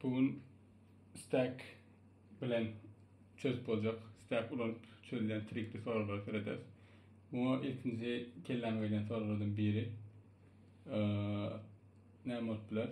Bu gün Stack bilen çözüp boljak, Stack ulanyp çözülen trikli soraglara serederis. Muňa ilkinji kelläme gelen soraglardan biri e, näme bolup biler?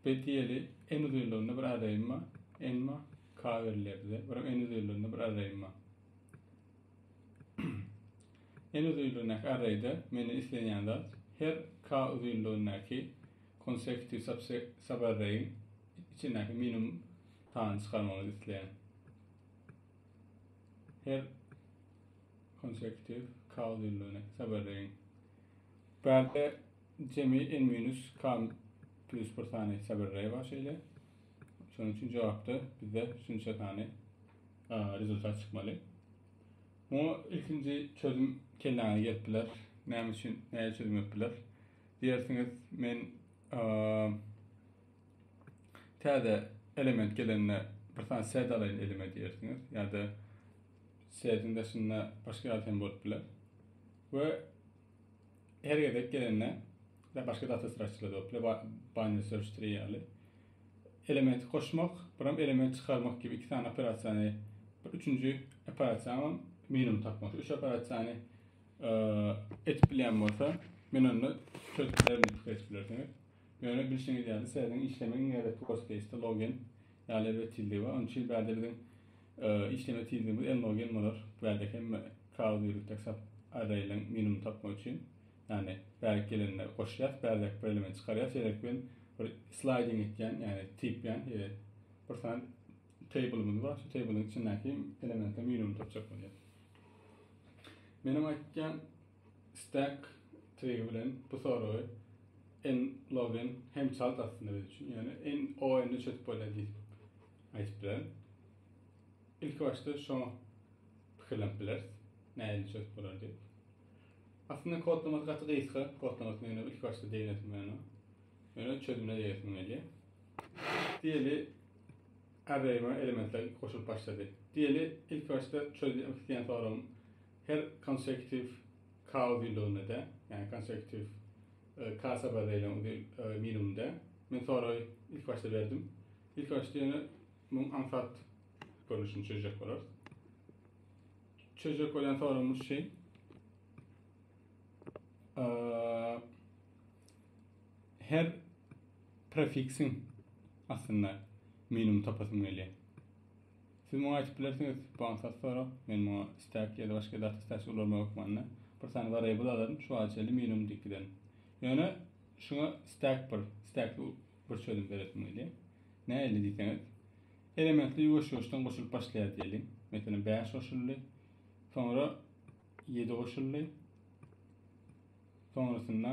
Betiyeli en uzunlygynda bir arraýym bar. Emma k berilýär bize. Bir en uzunlygynda bir arraýym bar. en uzunlygyndaky arraýda meni islenýän zat her k uzunlygyndaky Konsepti Saberreýiň içindäki minimum sany çykarmagy isleýän. Her konseptiv K uzynlygyny Saberreýiň. Bärde jemi n minus K plus bir sany Saberreý bar şeýle. Şonuň üçin jogapda bizde şunça sany rezultat çykmaly. Muňa ilkinji çözüm kelläňe gelip biler. Näme üçin, näçe çözüm edip biler? Diýersiňiz, men täze element gelende bir sany set alaýyn elime diýersiňiz, ýa-da setiň daşynda başga zat hem bolup biler. We her gezek gelende ya başga data sıraçylarda bolup biler, binary search tree ýaly. Elementi goşmak, bir hem element çykarmak gibi iki sany operasiýany, bir üçünji operasiýam minimum tapmak. Üç operasiýany etip bilýän bolsa, men onda söz bilerin etip geçip bilersiňiz. Ýöne bilşiňiz ýaly, serediň işlemegiň ýa-da Post Case-de logen ýaly erbet tizligi bar. Onuň üçin bärde biziň işleme tizligimiz N-logen bolar. Bärde hemme kagyz ýörütjek sap arraýlaryň minimumyny tapmak üçin. Ýagny bärik gelende goşýas, bärdäki bir elementi çykarýas, ýerek bilen bir sliding etýän, ýagny typýan, ýa-da bir sany table-ymyz bar, şu table-yň içindäki elementleriň minimumyny tapjak bolýas. Meniň aýtýan Stack Tree bilen bu soragy N log N hem çalt aslynda biz üçin. Ýöne N o N-i çözüp bolýar diýip aýdyp bilerin. Ilki başda şoňa pikirlenip bileris. Nähili çözüp bolar diýip. Aslynda kodlamasy gaty gysga, kodlamasy meniň ilki başda degnesim gelmedi. Ýöne çözümine degesim gelýär. Diýeli Arraýyma elementler goşulyp başlady. Diýeli, ilkibaşda çözýän isleýän soragym her konsekutiw kao düýnlüginde-de, ýagny konsekutiw ka sabar beýlän minimumda. Men soragy ilkibaşda berdim. Ilkibaşda ýöne muň aňsat görnüşini çözjek bolarys. Çözjek bolýan soragymyz şeý. Her prefiksiň astynda minimum tapasym gelýär. Siz muňa aýdyp bilersiňiz, bu aňsat sorag. Men muňa stack ýa-da başga data stack ulanyma hökmanda bir sany variable alaryn, şu wagta çenli minimum diýip giderin. Ýöne şuňa stack bir, stackli bir çözüm beresim gelýär. Nähili diýseňiz, elementler ýuwaş-ýuwaşdan goşulyp başlaýar diýeliň. Meselem, bäş goşuldy, soňra ýedi goşuldy, soňrasynda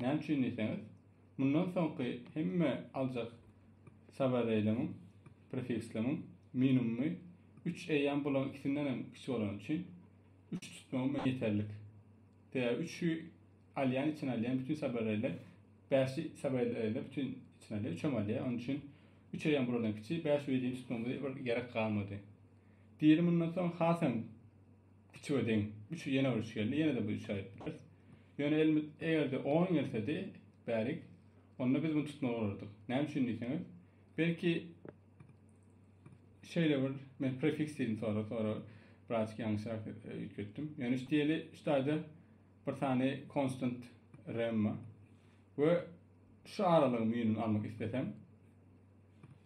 Näme üçin diýseňiz, mundan soňky hemme aljak sabareýligiň, prefiksligiň, minumumy üç eýýäm bularyň ikisinden hem kiçi bolany üçin, üç tutmagym maňa ýeterlik. Sebäbi üçi alýan içine alýan bütin sabareýler, bäşi sabareýler bütin içine alýar, üçem alýar. Onuň üçin üç eýýäm bulardan kiçi, bäş we ýedini tutmagymyza bir gerek galmady. Diri mundan soň hasam Üçüge deň. Üçü ýene bir üç geldi. Ýene-de bir üç aýryp bileris. Ýöne elimiz eger-de on gelsedi, bärik, onda biz muny tutmaly bolardyk. Näme üçin diýseňiz, belki şeýle bir men prefiks diýdim sonra, sonra birazjyk ýalňyşrak üýtgetdim. Ýöne şu diýeli şu taýda bir sany konstant remma we şu aralygyň müýnüni almak islesem,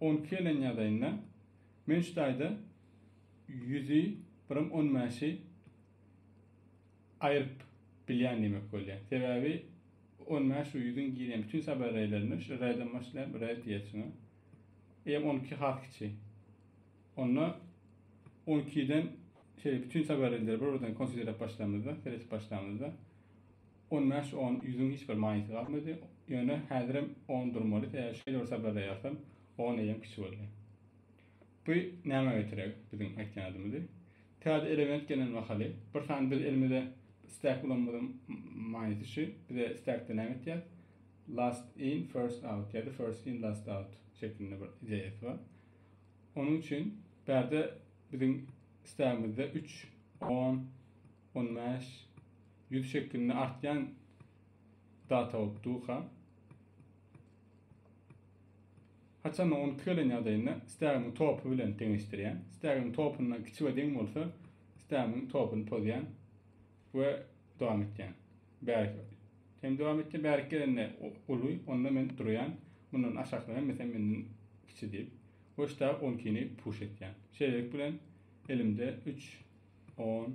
On iki ýylyň ýadaýynda men şu taýda ýüzi, birem on bäşi aýryp bilýän diýmek bolýar. Sebäbi on bäş we ýüzüň girýän bütin sabereýlerini şu R-den başlaýar, R diýýär şuňa. Eýýäm on iki has kiçi. Onda on ikiden şeýle bütin sabereýleri bir-birden konsiderläp başlamyzda, seretip başlamyzda, On bäş on ýüzüň hiç bir manysy galmady. Ýöne häzirem on durmaly, eger şeýle bir sabradaýarsan, on eýýäm kiçi boldy. Bu nämä getireg biziň aýtýan adymyzy? Täze element gelen mahaly, bir sany biz elimize stek ulanmadyk manysy şu, bize stekde näme etýär? Last in, first out ýa-da first in, last out şeklinde bir ideýasy bar. Onuň üçin bärde biziň stegimizde üç, on, on bäş, Ýüz şekilini artýan data bolup durka. Haçan ony tükelen ýagdaýynda stegimiň topy bilen deňeşdirýän. Stegimiň topuna kiçi we deň bolsa stegimiň topuny pozýan we dowam etýän. Bärik hem dowam etýän. Bärik gelende uly, onda men durýan. Mundan aşaklar hem mesela menden kiçi diýip. We shtag 12 ni puş etýän. Şeýlelik bilen elimde 3 10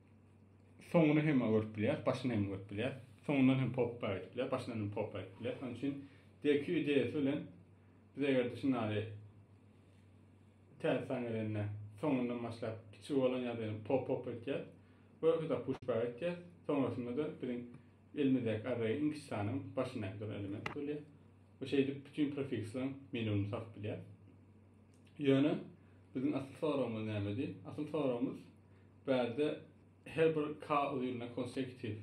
Soňuny hem görüp bilýäs, başyny hem görüp bilýäs. Soňundan hem popba gidip bilýäs, başyndan hem popba gidip bilýäs. Şonuň üçin DQ ideýasy bilen biz eger-de şunady täze san gelende soňundan başlap kiçi bolan ýa-da ýene pop popba gidýäs. Görkeza pushba gidýäs. Soňrasynda-da biziň elimizdäki array iň kiçi sanyň başyndaky duran element bolýar we şeýdip bütin prefiksleriň minimumyny tapyp bilýäs. Ýöne biziň asyl soragymyz nämedi? Asyl soragymyz bärde her bir K uzynlygyna konsekutiw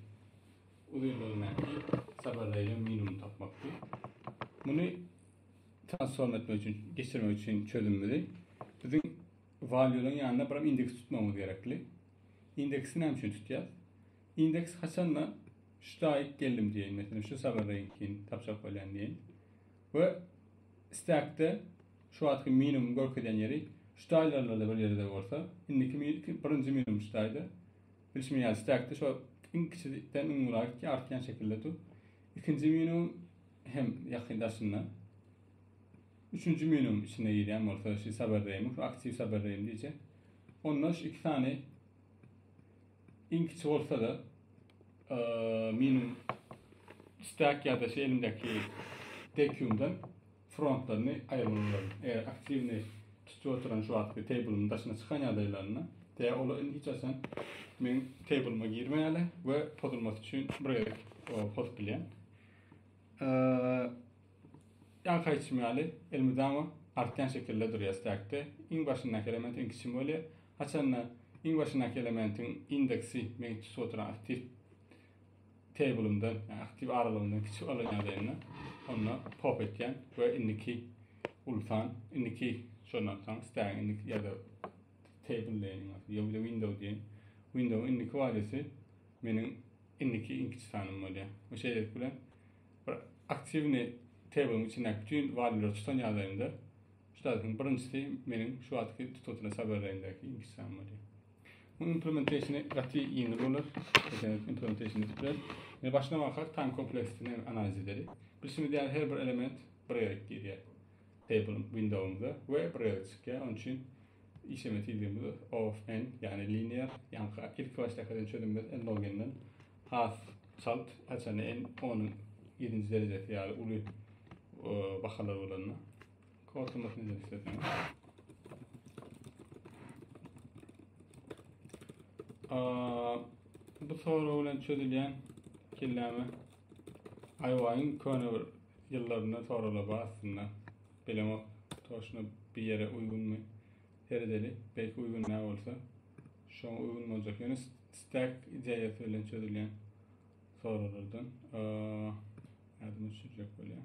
uzynlygyndaky sabardaýdan minimum tapmakdy. Muny transform etmek üçin, geçirmek üçin çözümimizi biziň valuelaryň ýanyna bir indeks tutmagymyz gerekli. Indeksi näme üçin tutýas? Indeks haçanda şu daýyk geldim diýen, meselem şu sabardaýynkini tapjak bolýan diýen. We stackde Şu wagtky minimum görkezýän ýeri ştaýlerlerde bir ýerde bolsa, indiki birinji minimum ştaýda, bilşimiz ýaly stekde şo iň kiçiden iň ula gitýär, artýan şekilde dur. Ikinji minimum hem ýakyn daşynda. Üçünji minimum içine girýän bolsa şu saber reými, şu aktiw saber reýim diýjek. Onda şu iki sany iň kiçi bolsa-da minimum stek ýa-da şu elimdäki dekiumdan frontlaryny aýyrmalydyr. Eger aktiwny tutup oturan şu wagtky teýblymyň daşyna çykan ýagdaýlarynda, tä olar indi hiç haçan meň teýblyma girmeýärler we pozulmasy üçin bir gezek pozup bilýän. Ýa haýçym ýaly elmydama artýan şekilde durýar stekde. Iň başyndaky element iň kiçi bolýar. Haçanda iň başyndaky elementiň indeksi meň tutup oturan aktiw Table'ymdan, ýagny aktiw aralygymdan kiçi alan ýagdaýynda onda pop etýän we indiki uly san, indiki şondan soň istägiň indiki ýa-da table diýen ýa-da window diýen window indiki waliýasy meniň indiki iň kiçi sanym bolýar. Bu şeýlelik bilen bir aktiwni table'yň içindäki bütün waliýleri tutan ýagdaýymda şu taýdan birinjisi meniň şu wagtky tutulýan subaraýyndäki iň kiçi san bolýar. Munuň implementationy gaty ýeňil bolar. Eseňiz implementation edip biler. Indi başdan bakar time kompleksitini analiz edeli. Bilşimiz ýaly her bir element bir gezek girýär. Table windowymyza we bir gezek çykýar. Onuň üçin işleme tizligimiz of n, ýagny linear, ýaňky ilki başdaky eden çözümimiz n log n-den has çalt, haçan n 10-yň 7-nji derejesi ýaly uly bahalar bolanda. Kortymyz ne istedim. Aa, bu soru bilen çözülýän kelläme aýwaýyň köne bir ýyllarynda soralap aslynda. Bilemok, toşna bir ýere uýgunmy? Seredeli, belki uýgun ne bolsa, şoňa uýgun boljak. Ýöne stack ideýasy bilen çözülýän sorulardan. Aa, ýadyma düşürjek bolýan.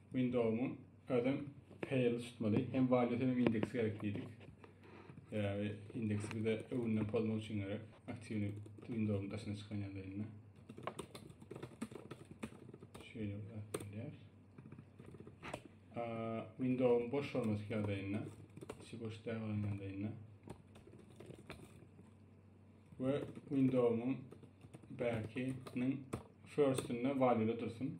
Windows'un özem fail tutmaly. Hem value hem indeksi gerek diýdik. Sebäbi indeksi bize öwünden pozmak üçin gerek. Aktiwni Windows'un daşyna çykan ýanda indi. Şöýle bolýar. Windows'un boş bolmasy ýa-da indi. Şu boş däl bolan ýanda indi. We Windows'un bäkiniň first-inde value dursun.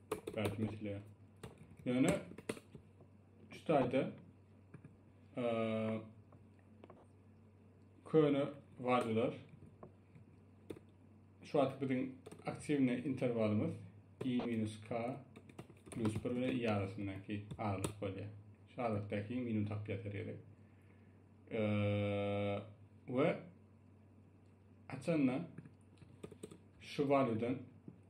Belki mesele. Ýöne şu taýda köne valyular şu wagt biziň aktiwne interwalymyz i-k plus 1 bilen i arasyndaky aralyk bolýar. Şu aralykdaky minimum tapýar serýede. we açanda şu valyudan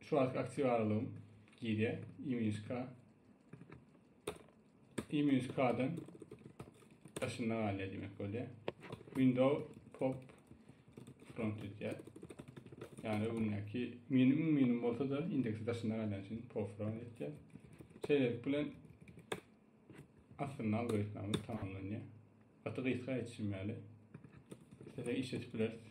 Şu wagtky aktiw aralygym girýär. Imyşka. Imyşkadan daşynda galýar diýmek bolýar. Window pop front edýär. Yani öňündäki minimum minimum bolsa da indeksi daşynda galýan üçin pop front edýär. Şeýlelik bilen aslynda algoritmimiz tamamlanýar. Gaty gysga geçişim ýaly. Size işletip bileris.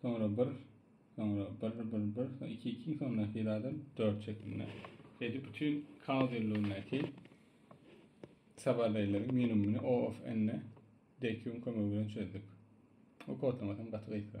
Soňra bir, soňra bir, bir, bir, soňra iki, iki, soňra netijadan dört şeklinde. Şeýdip bütün kaos ýyllygyndaky sabardaýlaryň minimumyny O of N DQ-nyň kömegi bilen çözdük. Bu kodlama hem gaty gysga.